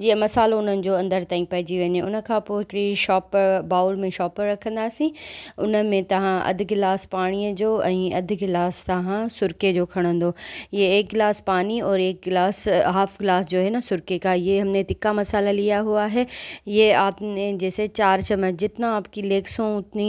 جيئن مصالحو انهن جو اندر تائين پئجي وڃي ان کان پوء هڪڙي شاپ بائول ۾ شاپ رکنداسين ان ۾ توهان اڌ گلاس پاڻي جو ۽ اڌ گلاس توهان سرڪي جو کڻندو يي ايڪ گلاس پاني اور ايڪ گلاس هاف گلاس جو هي نا سرڪي کا يي هم ني تکا مصالحه ليا هوا هي يي آپ ني جيسي چار چمچ جتنا آپ ڪي ليڪسون اتني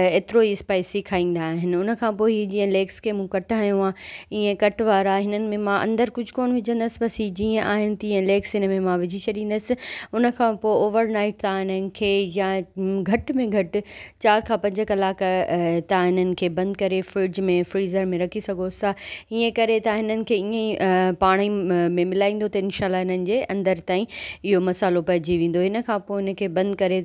ايترو ئي اسپائسي کائيندا آهن ان کان پوء هي جيئن ليگس کي مون ڪٽ هنيو آهي ائين ڪٽ وارا هنن ۾ مان اندر ڪجهه ڪون وجهندس بس هي جيئن آهن تيئن ليگس هن ۾ مان وجهي ڇڏيندس ان کان پوء اوور نائيٽ تان هنن کي يا گهٽ ۾ گهٽ چار کان پنج ڪلاڪ تان هنن کي بند ڪري فرج ۾ فريزر ۾ رکي سگهوس ٿا ائين ڪري تان هنن کي ائين پاڻي ۾ ملائيندو ته انشاء الله هنن جي اندر تائين اهو مصالحو پئجي ويندو ان کان پوء ان کي بند ڪري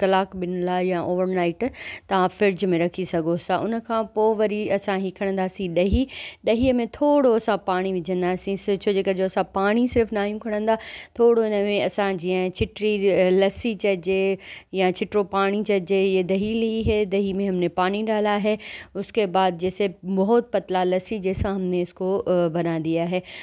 ڪلاڪ ٻن لاء يا اوور نائيٽ تان فرج ۾ رکي سگهو ٿا ان کان پوء وري اسان هي کڻنداسين ڏهي ڏهي ۾ ٿورو اسان پاڻي وجهنداسين ڇو جي ڪري جو اسان پاڻي صرف ناهيون کڻندا ٿورو ان ۾ اسان جيئن ڇٽري لسي چئجي يا ڇٽرو پاڻي چئجي هي دهي لي هي دهي ۾ همني پاڻي ڊالا هي اس کي بعد جيسي بهت پتلا لسي جيسا همني اس کو بنا ديا هي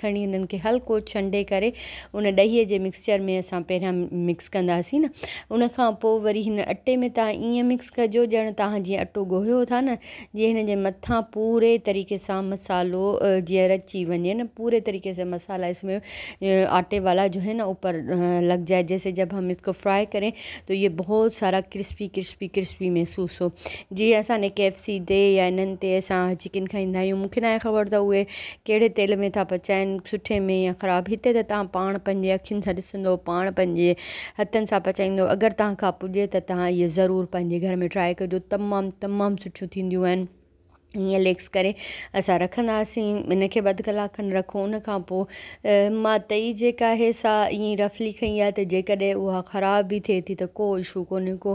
کڻي انهن کي هلڪو ڇنڊي ڪري ان ڏهي جي مڪسچر ۾ اسان پهريان مڪس ڪنداسين نه ان کان پوء وري هن اٽي ۾ تان ائين مڪس ڪجو ڄڻ تان جيئن اٽو ڳوهيو ٿا نه جيئن هن جي مٿان پوري طريقي سان مصالحو جيئن رچي وڃي نه پوري طريقي سان مصالحا اس ۾ آٽي والا جو هي نه اوپر لڳ جائي جيسي جب هم اس کو فرائي ڪري تو هي بهت سارا ڪرسپي ڪرسپي ڪرسپي محسوس هو جيئن اسان ني ڪي ايف سي تي يا انهن تي اسان چڪن کائيندا آهيون مونکي ناهي خبر ته اهي ڪهڙي تيل ۾ ٿا پچائين سٺي ۾ يا خراب هتي ته توهان پاڻ پنهنجي اکين سان ڏسندو پاڻ پنهنجي هٿن سان پچائيندو اگر توهان کان پڄي ته توهان اهي ضرور پنهنجي گهر ۾ ٽرائي ڪجو تمام تمام سٺيون ٿينديون آهن ائين ليڪس ڪري اسان رکنداسين ان کي به اڌ ڪلاڪ کن رکو ان کان پوء مان تئي جيڪا آهي سا ائين رفلي کئي آهي ته جيڪڏهن اها خراب به ٿئي ٿي ته ڪو اشو ڪونهي ڪو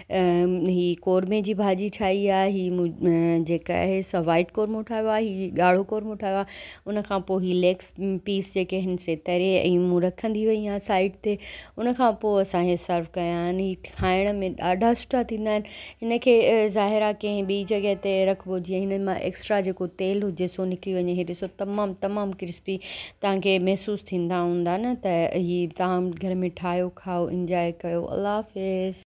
هي قورمي جي ڀاڄي ٺاهي آ هي جيڪا آهي سا وائٽ قورمو ٺاهيو آ هي ڳاڙهو قورمو ٺاهيو آ ان کان پوء هي ليگس پيس جيڪي آهن سي تري ۽ مون رکندي وئي آ سائيڊ تي ان کان پوء اسان هي سرو ڪيا آهن هي کائڻ ۾ ڏاڍا سٺا ٿيندا آهن هن کي ظاهر آ ڪنهن ٻي جڳهه تي رکبو جيئن هنن مان ايڪسٽرا جيڪو تيل هجي سو نڪري وڃي هي ڏسو تمام تمام ڪرسپي تهانکي محسوس ٿيندا هوندا نه ته هي تهان گهر ۾ ٺاهيو کائو انجوائي ڪيو الله حافظ